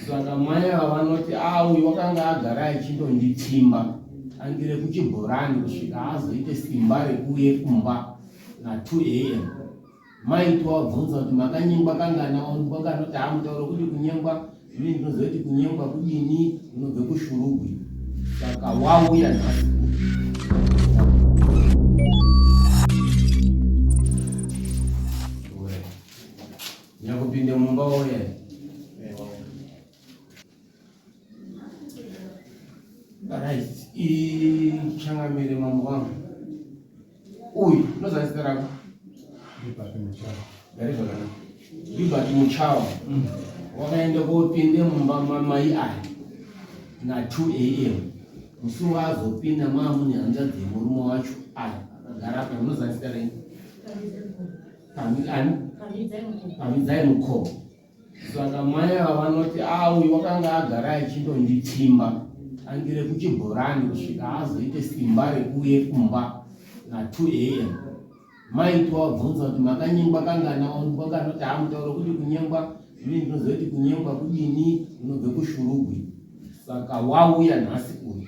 Saka mai ava vanoti ah, uyu wakanga agara achindonditsimba angire kuchibhorani kusvika azoite simba rekuuye kumba na 2 am mai tovabvunza kuti makanyengwa kangana wakanoti haa mutauro kuti kunyengwa ini ndinoziva kuti kunyengwa kudini unobve kushurugwi saka wauya nhasi Nyakupinde mumba woye. Right. Ichangamire mambo wangu. Uyu unozana zita rako? Libert Muchawa. Gari zvakanaka. Libert Muchawa. Mm. Wakaenda kopinde mumba mamai aya na 2 am musi waazopinda maamune hanzvadzi yemurume wacho aya akagara apa unozana zita renyu? pamidzai mukoo saka mai ava vanoti auyu wakanga agara achindonditsimba angire kuchibhorani kusvika azoite simba rekuuye kumba na 2 am mai towabvunza kuti makanyengwa kangana wangu kwakanoti amutauro kuti kunyengwa ini ndinozoiti kunyengwa kudini unobve kushurugwi saka wauya nhasi uyu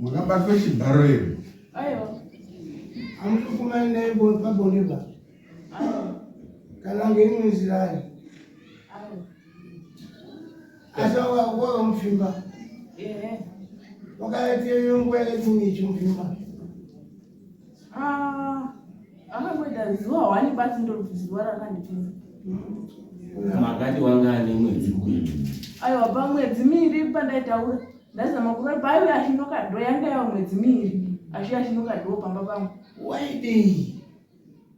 Makabatwa chibharo here? Aiwa. Amutukumani naye pabonde ba. Aiwa. Kana ngeimwe nzira ari. Aiwa. Asi wakakuwa mupfimba. Ehe. Wakaita iyo nguva yakaita imwe ichimupfimba. akamboita zuva hwani basi ndoti zuva rakandipinza makati wanga ane mwedzi kuini aiwa pamwedzi miiri pandaitaura ndazama kuva paive achinokadho yanga yava mwedzi miiri achiya achinokadho pamba pangu waidei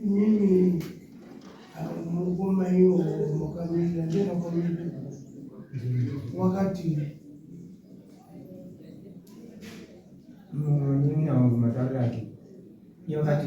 Mimi mukoma hiyo mwakamira ndena kwamira wakati mimi awo matauriro ake iye wakati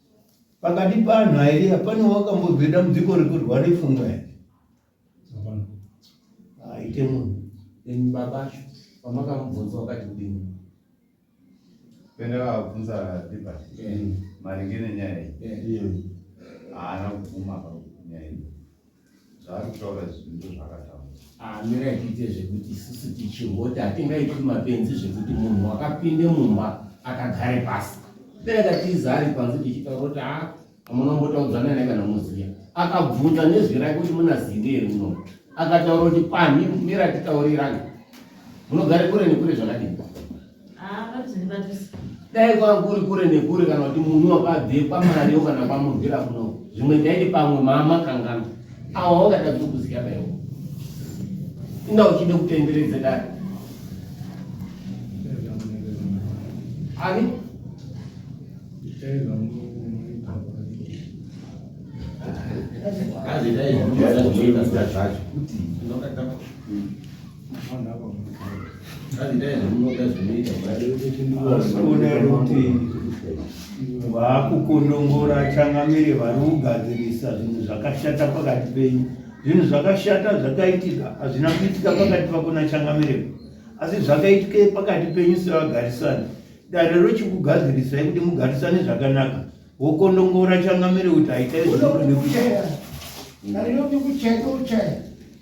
Pakati panhu airi hapana wakambonzwa dambudziko rekurwa nepfungwa here? Haite munhu. Then baba vacho pamakamubvunza wakati kudini? Penda vakabvunza Libert maringe nenyaya iyi. Haana kubvuma panyaya iyi. zvaari kutaura izvi ndo zvakatambura amira ah, kuite zvekuti isusu tichihota hatingaiti mapenzi zvekuti munhu wakapinde mumba akagare pasi peakatiza ari panze tichitaura kuti a ah, amunombotaudzana naye kana muziya akabvunza nezwi rake kuti munazivi here muno akataura kuti pani mira titaurirana munogare kure nekure zvakadini dai kwanga kuri kure nekure kana kuti munhu wakabve kwamariyo kana kwamurwira kuno zvimwe ndaiti pamwe mama kangana awa wangada kutokuziya baiwo inda uchide kutenderedze dai ani azidai zvacho kuti vaakukundongora changamire vari kugadzirisa zvinhu zvakashata pakati penyu zvinhu zvakashata zvakaitika hazvina kuitika pakati pako nachangamire asi zvakaitika pakati penyu sevagarisani dare rochikugadzirisai kuti mugarisane zvakanaka wokondongora changamire kuti haitai zvinokuda kuchaya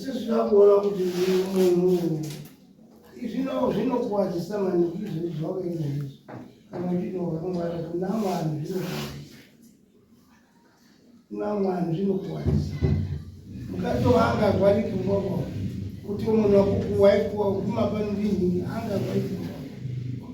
sezvinakuona kuti munhu zvino zvinokuwadzisa maningi izvezvi zvawakaita izvezvi kana uchinovakamwara kuna vanhu zvinokuwadzisa kuna vanhu zvinokuwadzisa mukatovanga gwariki mboko kuti munhu wakukuwaikuwa kumapano ndinhingi anga gwariki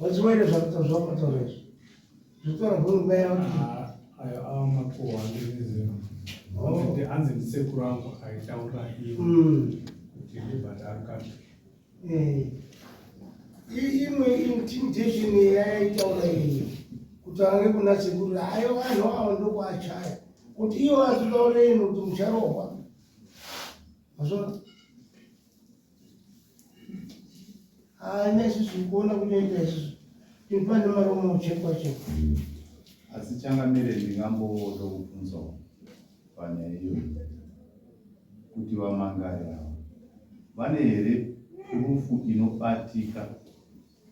Wachiwere zvakuta zvakutora izvo. Zvitora hurumba yao. Ah, ayo awa makuwa ndizvo. Oh. Kuti anzi ndisekuru angu aitaura iye. Mm. Kuti ndibhadhara kacho. Eh. Imwe intimidation yaitaura iye. Kuti ange kuna sekuru ayo vanhu awa ndokwachaya. Kuti iwo azvitaure ino kuti mucharohwa. Mazvona? haana isusu kuona kunoita isusu tipa nemaromo uchekwa chekwa hmm. asi changamire ndingamboda kubvunzawo panyaya iyoyi kuti vamangari ava vane here rufu inobatika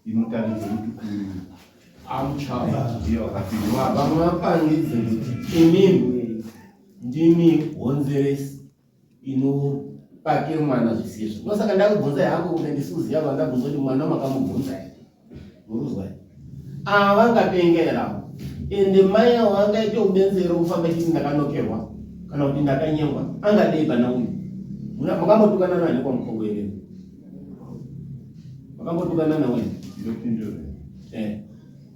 inotaridza kuti uyu amuchavamwe vapangidze kuti imimi ndimi honzeresi inobate mwana zvisizvo ndosaka ndakubvunza yangu kune ndisuziva vandabvunza kuti mwana makamubvunza here muruzwa here ava vangapengera ende mai avo vangaite ubenzero kufamba chiti ndakanokerwa kana kuti ndakanyengwa angadei pana uyu makambotukana nani kwamukongo here makambotukana nawe eh.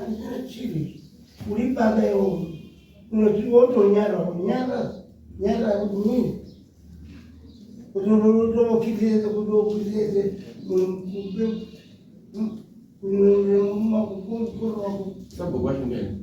Andina chivi. Uri baba iwo. Unoti wotonyara unyara. Nyara kuti nini? Kuti unotomokitiriza kuti ukitirize mumakukurwa. Sabhuku washingeni.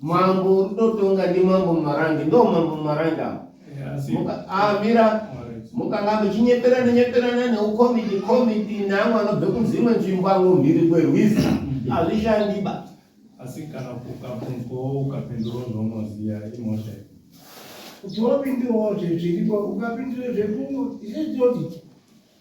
Mambo ndotonga ndi mambo marange ndo mambo marange avo amira mukanga muchinyeperana nyeperana neukomiti komiti neamwe anobve kudzimwe nzvimbo amwe mhiri kwerwizi mm. hazvishandiba asi kana ukabvunzwawo ukapindurawo zvaunoziva imhosva kuti wapindurawo zviripo ukapindura zvekungo izvezvoti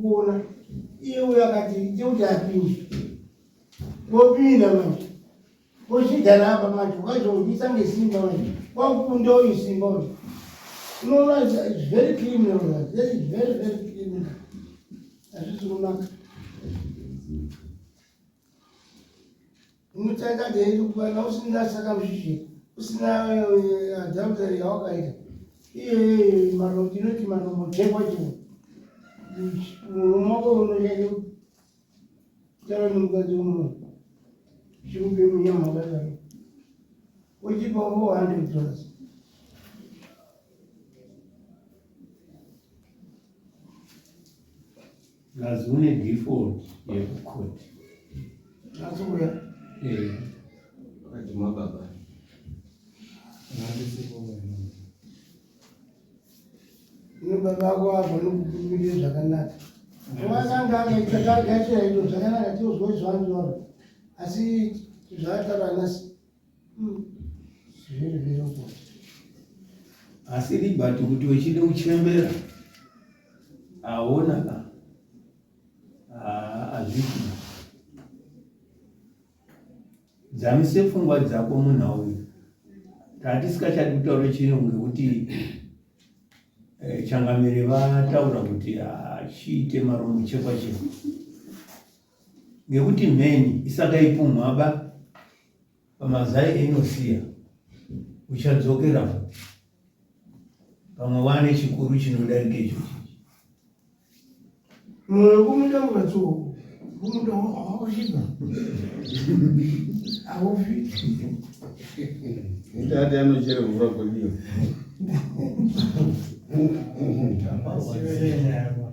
kuona iye uyo akati ite kuti apinde wopinda manje wochigara apa manje ukazoudzisa ngesimba manje wakukunda uyu simba uyu unoona very criminal very very very criminal hazvisi kunaka Unotaika dai ndikubana usina saka mshishiri usina adultery yawakaita iye mano tinoti mano muchekwa chimwe mumoko unoshande kutaura nemukadzi uno chikupe munyama wakadaro uchipa four hundred dollars Plus une default yekucourt. Azoya. Eh. Akadima baba. Nandisipo mwana. Ino baba wako avo nokukumbirire zvakanaka. Wasanga akaita target yaito zvakanaka tiozwa izvo anzwa. Asi zvataura nasi asi libati kuti wechide kuchembera aona ka azviti dzamise pfungwa dzako munhau uyu tatisikachadi kutaura chirungu ngekuti eh, changamire vataura kuti achiite maromo chekwa chekwa Ngekuti mheni isakaipumhaba pamazai einosiya, uchadzokera futi pamwe wane chikuru chinodarika ichochi. Mwoyo kumunda ungatsuwa kumunda wakushina haufi Ndati anochere mvura kodiwa. Siyana.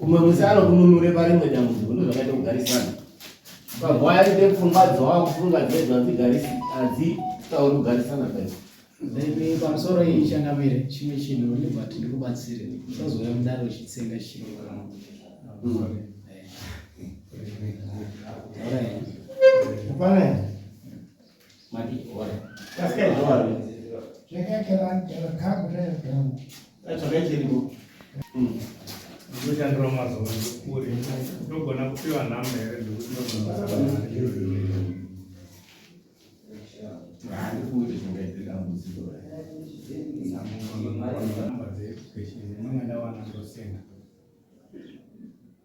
Umwe musi anokununure parimwe dambudziko ndozvakaita kugarisana. Ukagwaya rite pfungwa dzowa kufunga dzedu hadzigarisi hadzitauri kugarisana paipo. Then pamusoro iyi changamire chimwe chinhu uri but ndikubatsire usazouya mudare uchitsenga chirungu kana All right. Hapana. ndoshandira mazuva ndikuri ndogona kupiwa nhamba here ndikuti